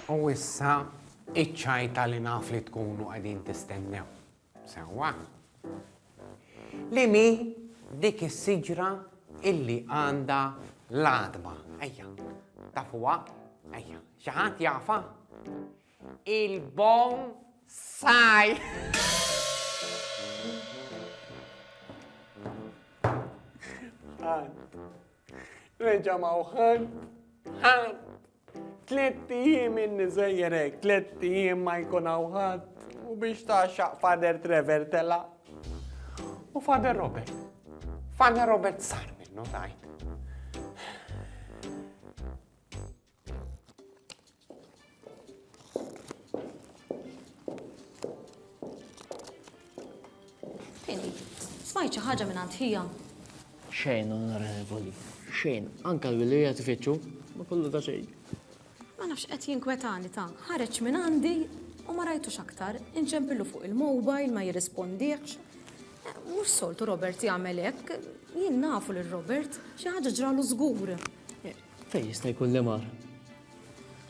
U issa, iċ-ċajta li naf li tkunu qegħdin tistennew. Sewwa? Li mi dik is-siġra illi għandha l-għadma? Ejja, tafuha? Ejja, xi ħadd jafa? Il-bom saj! Reġa' ma hu ħadd, ħadd. Tlett ijiem inni sejjer hekk, tlett ijiem ma jkun hawn ħadd. U biex tgħaxxaq Father Trevor tela'. U Father Robert, Father Robert sar minnu tajt. Smajt xi ħaġa minn għand ħija. Xejn, onorevoli, xejn. Anka l-wilija tifittxu, ma kollu ta' xejn. Ma nafx qed jinkwetani ta' ħareġ minn għandi u ma rajtux aktar, inċempillu fuq il-mobile ma jirrispondiex. Eh, mhux soltu Robert jagħmel hekk, jien nafu lil Robert, xi ħaġa ġralu żgur. Fejn jista' jkun li mar?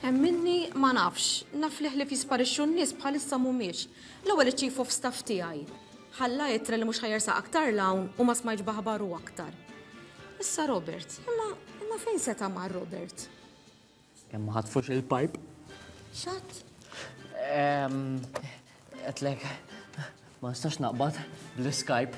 Hemm minni ma nafx, naf li ħlief jisparixxu n-nies bħalissa mhumiex. L-ewwel iċ-chief of staff tiegħi ħalla ittra li mhux ħa jersaq aktar 'l hawn u ma smajtx b'aħbaru aktar. Issa Robert, imma imma fejn seta' mar Robert? Kemm ma ħatfux il-pipe? X'għadd? Ehm, Għedlek, ma nistax naqbad bl-Skype.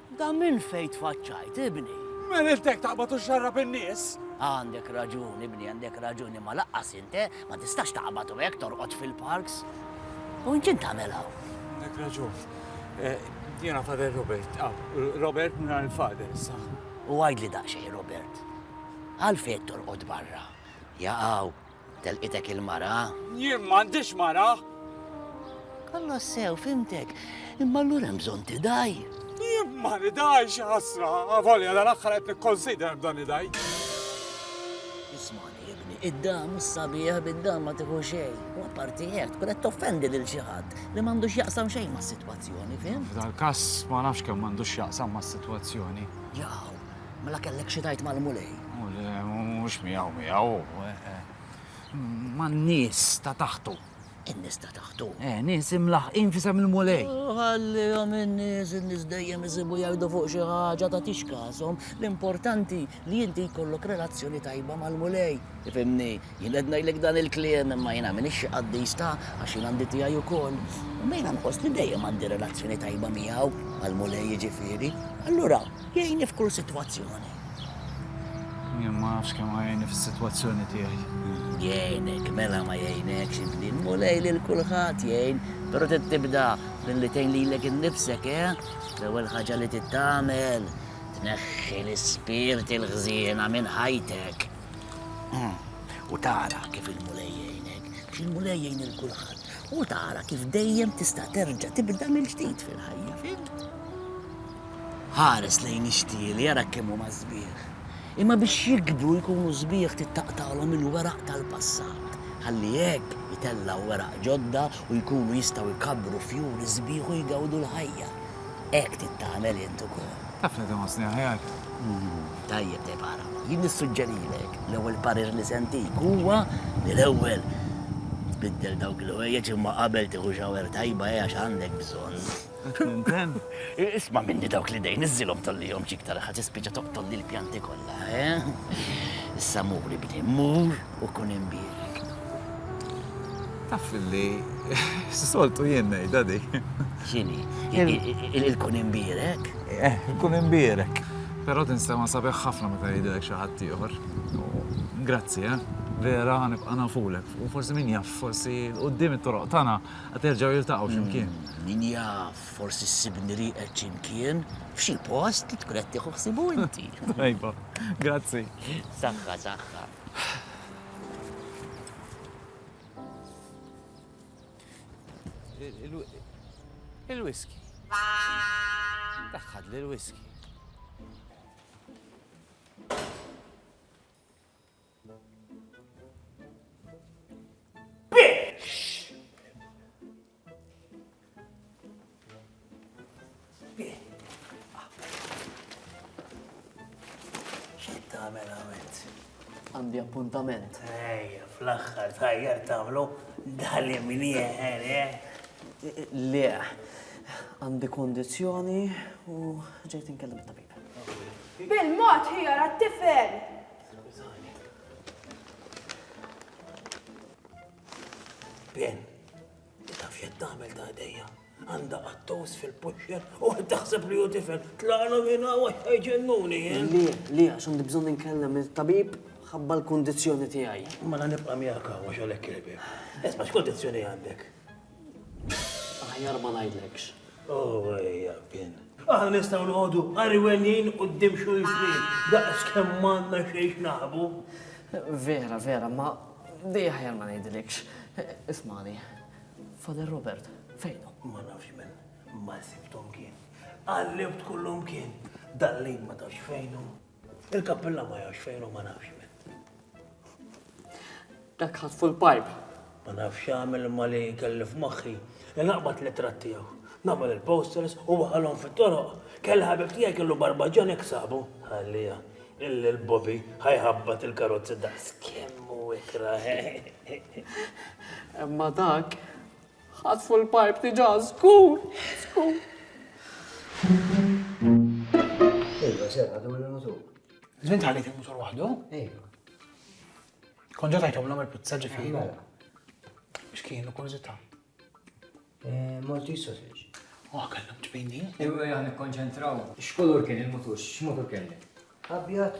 Da minn fejn tfaċċajt, ibni? Min għidlek taqbad u xxarrab in-nies? Għandek raġun, ibni, għandek raġun, imma laqqas int, eh, ma tistax taqbad u hekk torqod fil-parks. U int x'int tagħmel hawn? Għandek raġun. Eh, jiena Father Robert, ah, Robert mingħajr il-Father issa. U għidli daqsxejn, Robert, għalfejn qed torqod barra? Jaqaw, Telqitek il-mara? Jien m'għandix mara! Alla sew, fhimtek. Imma allura hemm bżonn tidgħi. Jien ma nidgħix, ħasra, avolja dan aħħar qed nikkonsider b'dan idgħi. Ismani, ibni, id-dam u s-sabiħ bid-dam ma tieħu xejn. U apparti hekk tkun qed toffendi lil xi ħadd li m'għandux jaqsam xejn mas-sitwazzjoni, fim? F'dal-każ ma nafx kemm m'għandux jaqsam mas-sitwazzjoni. Jaw, Mela kellek xi tgħid mal-Mulej? U le, mhux miegħu miegħu. Eh, eh. Man-nies ta' taħtu. In-nies ta' taħtu. Eh, nies imlaħqin fisem il-mulej. Ħallihom in-nies, in-nies dejjem isibu jgħidu fuq xi ħaġa ta' tix każhom. L-importanti li inti jkollok relazzjoni tajba mal-mulej. Ifimni, Jien qed ngħidlek dan il-kliem imma jiena m'iniex xi qaddis ta' għax jien għandi tiegħi wkoll. Imma jiena nħoss li dejjem għandi relazzjoni tajba miegħu, mal-Mulej jiġifieri. Allura, jgħinni f'kull sitwazzjoni. Jien ma nafx kemm ħa jgħinni fis-sitwazzjoni tiegħi. Jgħinek, mela ma jgħinekx ibni, l-Mulej lil kulħadd jgħin, però trid tibda billi tgħin lilek innifsek, eh? L-ewwel ħaġa li trid tagħmel, tneħħi l-ispirti l-ħżiena minn ħajtek. U tara kif il-Mulej jgħinek, biex il-Mulej jgħin il-kulħadd. U tara kif dejjem tista' terġa' tibda mill-ġdid fil-ħajja, fil? Ħares lejn ix-xtieli, jara kemm huma sbieħ. Imma biex jikbru jkunu sbieħ tittaqtalhom il-weraq tal-passat. Ħalli hekk itellgħu weraq ġodda u jkunu jistgħu jkabbru fjuri sbieħ u jgawdu l-ħajja. hekk trid tagħmel int ukoll. Taf li tħossni aħjar. Tajjeb, tajjeb ara. Jien nissuġġerilek l-ewwel parir li sentik huwa li l-ewwel tbiddel dawk il-ħwejjeġ imma qabel tieħu xawer tajba hija x'għandek bżonn. Isma' minni dawk li dejn iżilhom tollihom xiktar ħadd tispiċċa toqtolli l-pjanti kollha, eh? Issa muri bni, mur u kun imbierek. Taf li soltu jien ngħidha di. X'inhi? Il-kun imbierek? Eh, il-kun imbierek. Però tinsema sabiħ ħafna meta jgħidilek xi ħadd ieħor. Grazzi, eh? Vera ħanibqa' nafulek. U forsi min jaf, forsi l-qudiem it-toroq tagħna qed jerġgħu jiltaqgħu x'imkien. Mm, min jaf, forsi ssibni rieqed x'imkien f'xi post li tkun qed tieħu ħsibu inti. Tajba, grazzi. Saħħa, saħħa. Il-whisky. Daħħad li l-whisky. tagħmel għamilt. Għandi appuntament. Ejja, fl-aħħar tajjar tagħmlu dali minn jeħer, eh? Le, għandi kondizjoni u ġejt inkellem it-tabib. Bil-mod ħjar għat-tifel! Ben, taf xed tagħmel ta' idejja. Għanda għattos fil-puxxer u għed taħseb li u tifel. Tlaqna minna u ġennuni, eh? Le, le, għax għandi bżon ninkellem il-tabib ħabba l-kondizjoni tiegħi. Mela nibqa' miegħek għax għalhekk il-bib. Esma' x'kondizzjoni għandek? Aħjar ma ngħidlekx. Oh, ejja, pin. Aħna nistgħu noqogħdu qariwelin quddiem xulxin daqs kemm m'għandna xejn naħbu. Vera, vera, ma dej aħjar ma ngħidlekx. Ismani, Father Robert, fejnu? Ma nafx men, ma sibtom kien. Għallibt kullum kien. Dallin ma tafx fejnu. Il-kappilla ma jafx fejn u ma nafx minn. Dak ħadd full pipe. Ma nafx għamil ma li kelli f'moħħi. Li naqbad li trattijaw. Nagħmel il-posters u waħalhom fit-toroq. Kelli ħabib tiegħi kellu barbaġġan hekk sabu. Ħallija. Illi l-Bobby ħajħabbat il-karozzi daqs kemm u ikra. Imma dak Ħatfu l-pipe diġà żgur, żgur. Ejwa, serra dawr il-mutur. Żmien tħallit il-mutur waħdu? Ejwa. Kon ġa tajtomlhom il-pizza ġifieri. Mela. X'kienu kurżità? Eh, Malti sausage. Oh, kellhom ġbini. Ejwa, jgħan ikkonċentraw. X'kolor kien il-mutur? X'mutur kellek? Abjad.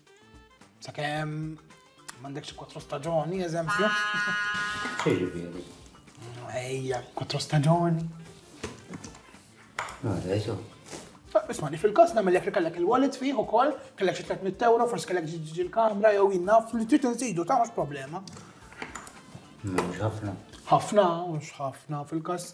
Sakemm m'għandekx kwatru staġoni, eżempju. Xiġifieri? Ejja, kwatru staġoni. Għada, jisu. Ismani, fil-kas namel jek kellek il-wallet fih u koll, kellek xi 300 euro, forse kellek ġiġi l-kamra jew jinnaf li trid nżidu ta' mhux problema. Mhux ħafna. Ħafna, mhux ħafna fil-kas.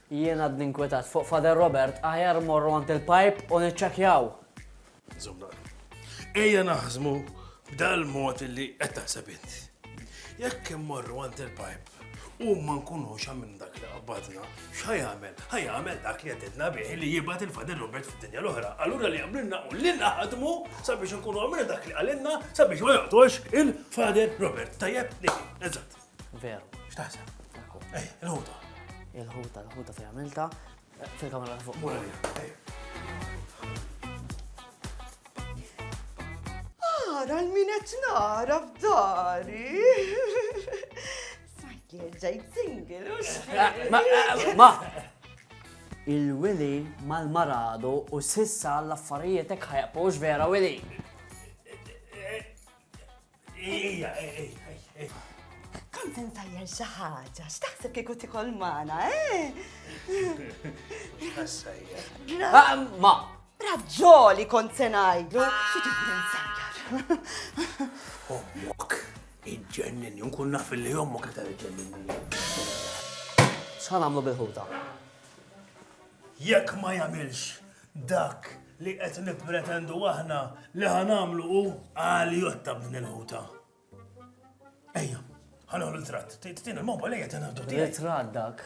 Jien għadni nkwetat fuq Father Robert, aħjar mmorru għand il-Pajp u niċċekkjaw! Insomma, ejja naħsmu b'dal-mod li qed taħseb int. Jekk immorru għand il-Pajp u ma nkunux għamilna dak li qabbadna, x'ħa jagħmel? Ħa jagħmel dak li għedidna bih li jibgħat il-Father Robert fid-dinja l-oħra. Allura li għamlilna u li naħdmu sabiex nkunu għamilna dak li qalilna sabiex ma joqtolx il-Father Robert. Tajjeb? Eżatt. Veru. X'taħseb? Ekku. Ej, il-ħuta. Il-ħuta, il-ħuta fejn għamilta. Fil-kamera ta' fuq. Mura li, ej. Ara l-min qed nara f'dari. Sajjer ġejt single u x'fejn. Ma! Il-Willy mal-maradu u sissa l-affarijiet hekk ħajqpux vera Willy. Ija, Kont insajjer xi ħaġa, x'taħseb kieku tikol magħna, eh? Ah, ma! Raġġoli kont se ngħidlu, xi tibda nsajjar. Ommok, iġġennin, nkun naf li ommok qed iġġennin. X'ħan għamlu bil-ħuta? Jekk ma jagħmilx dak li qed nippretendu aħna li ħa nagħmlu hu għaljotta b'din il-ħuta. Ejja, ħa noħlu l-tratt. Tieni l-moba lejja ta' naħdu tiegħi. Tratt dak.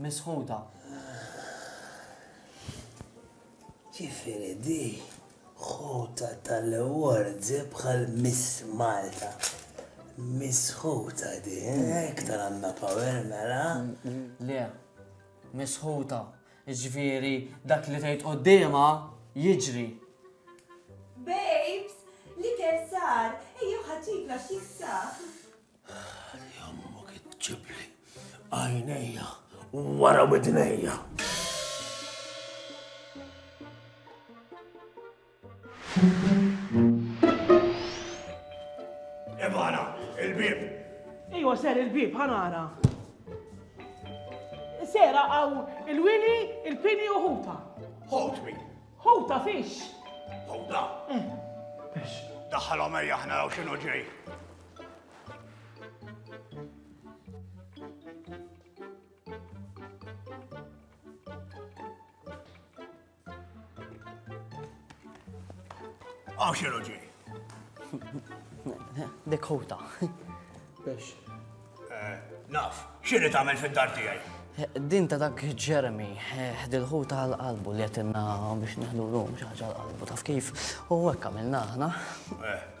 misħuta. Ġifieri di ħuta tal-Awards bħal Miss Malta. Misħuta di, hekk tal-għandna power mela. Le, misħuta. Ġifieri dak li tgħid quddiemha jiġri. Babes, l-ikel sar, ejjew ħaġġibna xi ksaq. Jammok iġġibli għajnejja wara widnejja. Ibana, il-bib. Iwa ser il-bib, ħanara. Sera għaw il-wili, il-pini u ħuta. Ħut min? Ħuta fix. Ħuta? Eh. Biex. Daħħal għamajja ħna għaw xinu ġej. Għaw xinu ġi. Dekota. Biex. Eh, naf, xini tamel fil-dar tijaj? Din ta' dak Jeremy, eh, dil-ħu ta' l-qalbu li għetinna biex neħdu l-lum xaħġa l-qalbu, taf kif? U għek għamilna ħna. Eh,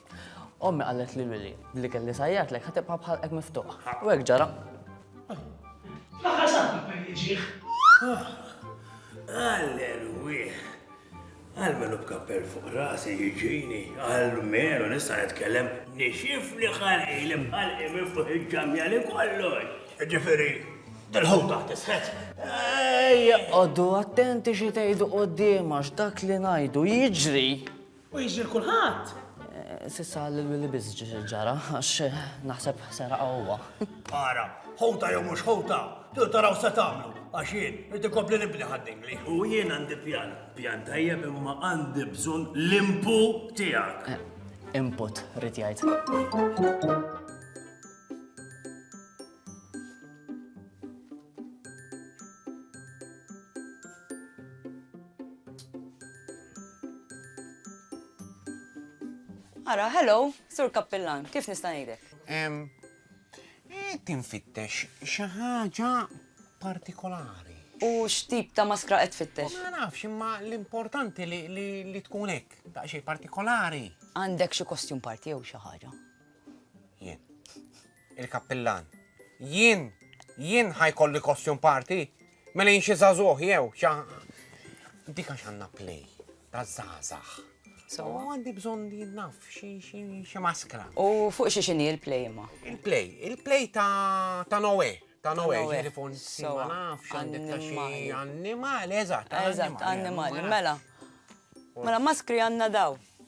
Ommi qalet li Willy, li kelli sajjatlek ħa tibqa' bħalqek miftuħ. U hekk ġara. Fl-aħħar sabba perdi ġieħ. Alleluja. Għalmenu b'kappell fuq rasi jiġini, għalmenu nista' nitkellem nixif li ħalqi li bħalqi miftuħ il-ġamja li kollox. Ġifieri, dal-ħum taħt isħet. Ej, għoddu attenti xi tgħidu qudiem għax dak li ngħidu jiġri. U jiġri l-kulħadd. S'issa lil Willy biss ġara għax naħseb seraqha huwa. Ara, ħuta jew mhux ħuta, trid taraw se tagħmlu għax jien irid ikompli nibni ħaddingli. U jien għandi pjan, pjan tajjeb imma għandi bżonn l-impu tiegħek. Eh, input, rrit jgħid. Ara, hello, Sur Kappillan, kif nista' ngħidek? Qed infittex xi ħaġa partikolari. U x'tip ta' maskra qed tfittex? Ma nafx, imma l-importanti li tkun hekk, daqsxejn partikolari. Għandek xi kostjum parti jew xi ħaġa? Jien. Il-Kappillan, Jien, jien ħa jkolli costume party? Mela jien xi żagħżugħ jew xa. Dik għax għandna play ta' żgħażagħ. So għandi bżonn li naf xi xi maskra. U fuq xi xini l-play ma? Il-play, il-play ta' ta' Noe. Ta' Noe, ġieli fuq ma nafx għandek ta' xi annimali, eżatt. Eżatt, annimali, mela. Mela maskri għandna daw.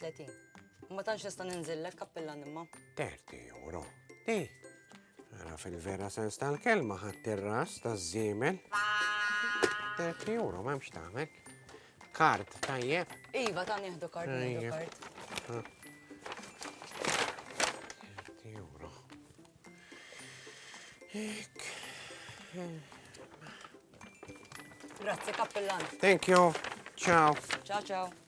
30. Ma tantx nista' ninżillek, kappillan imma. 30 euro. Di, Ara fil-vera sens tal-kelma ħadd ir-ras taż-żiemel. 30 euro m'hemmx tagħmel. Kart tajjeb. Iva ta' nieħdu kart nieħdu kart. 30 euro. Ek. Grazzi kappillan. Thank you. Ciao. Ciao ciao.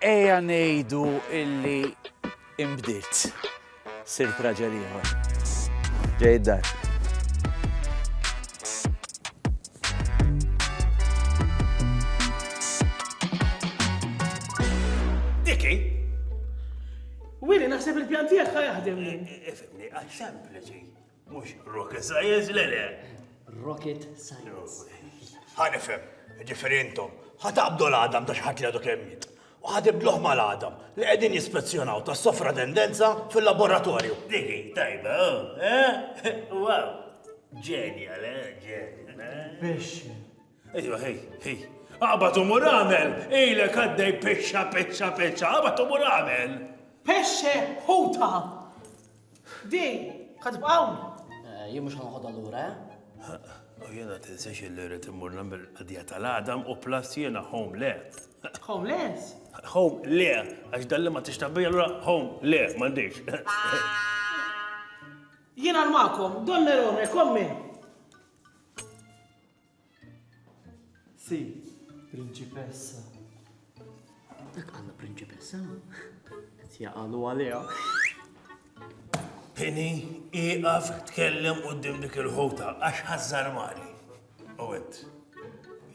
Ejja ngħidu illi inbdilt. Sirt raġel ieħor. Ġej id-dar. Diki? Wili, naħseb il-pjan tiegħek ħa jaħdem. Ifimni, għal sempliċi. Mhux rocket science, le le. Rocket science. Ħanifhem, ġifieri intom, ħataqbdu l-għadam ta' xi ħadd li għadu kemm jiet. U ħatibdluh mal-għadam li qegħdin jispezzjonaw tas sofra tendenza fil-laboratorju. Digi, tajba, eh? Wow, ġenja, le, ġenja. Biex. Ejja, ħej, ħej. Aqbad u mur agħmel! Ilek għaddej pixxa, pixxa, pixxa, aqbad u mur agħmel! Pexxe, ħuta! Di, ħatibqa' hawn? Eh, jien mhux ħanħodha lura, eh? U jiena tinsex li rrid immur nagħmel qadija tal-għadam u plus jiena home le. Home le? Home le, għax dalli ma tixtabija l home le, m'għandix. Jiena l-makom, don Nerone, kommi. Si, Prinċipessa. Dak għalla Prinċipessa? Qed jaqalu għaliha. Pini, iqaf tkellem qudiem dik il-ħuta għax ħażżar mali. U għed,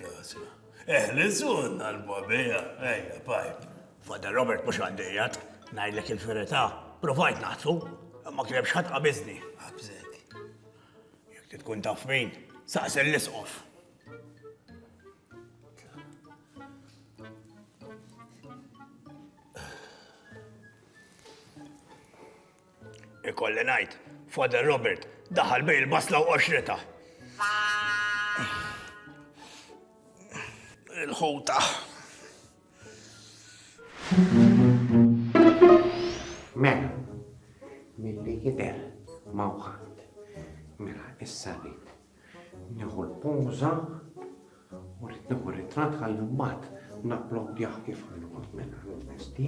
jasna. Eħlisun għal-babija, ejja, pajp. Fada Robert mux għaddejjat, najlek il-ferita, provajt naħtu, ma kienx ħadd qabiżni. Abżek. Jekk trid tkun taf min, saqsi l-Isqof. Ikolli ngħid, Father Robert daħal bej il-basla u qoxrita. Il-ħuta. Mela, milli jidher mawħat. Mela, issa rrid nieħu l-poża u rrid nieħu ritratt ħalli mbagħad napplodjah kif ħanqod mela l-vesti.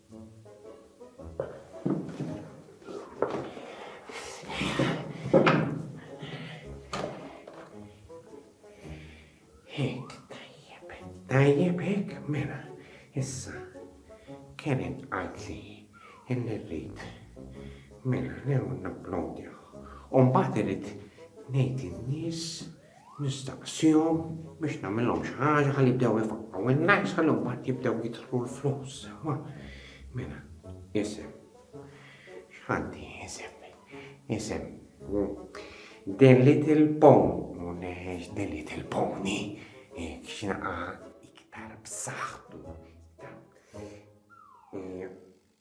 Tajjeb hekk mela, issa kien inqadli illi rrid. Mela new napplodja. U mbagħad irid ngħid in-nies Nistaqsihom biex nagħmilhom xi ħaġa ħalli jibdew ifaqqgħu n-nies ħalli mbagħad jibdew jidħlu l-flus sewwa. Mela, isem. X'għandi isem? Isem. The Little Pony, The Little Pony, x'naqa iktar b'saħħtu.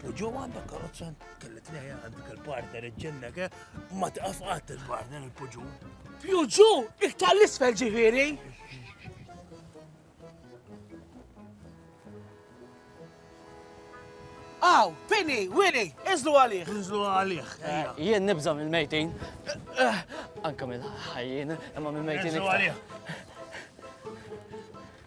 U ġo għandek karozza, kelli tnejja għandek il-partner iġġennek, eh? ma tqaf qatt il-partner il-puġu. Puġu, iktar l-isfel ġifiri. Aw, Pini, Willy, iżlu għalih. Iżlu għalih. Eh, jien nibza mill-mejtin. Eh, anka mill-ħajjien, imma mill-mejtin. Iżlu għalih.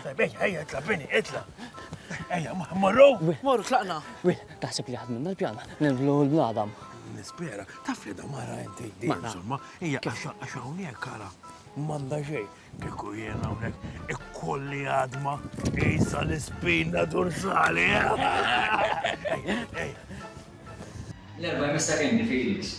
Ejja, ejja, itla, bini, itla. Ejja, morru. Morru, tlaqna. Wil, taħseb li ħadmin mal-pjan, niblu l-bladam. Nispera, taf li da mara inti, insomma, ejja, għax hawnhekk kara, manda xej, kieku jena hawnhekk ikkolli għadma isa l-ispina dorsali. L-erba' jmissa kendi Felix.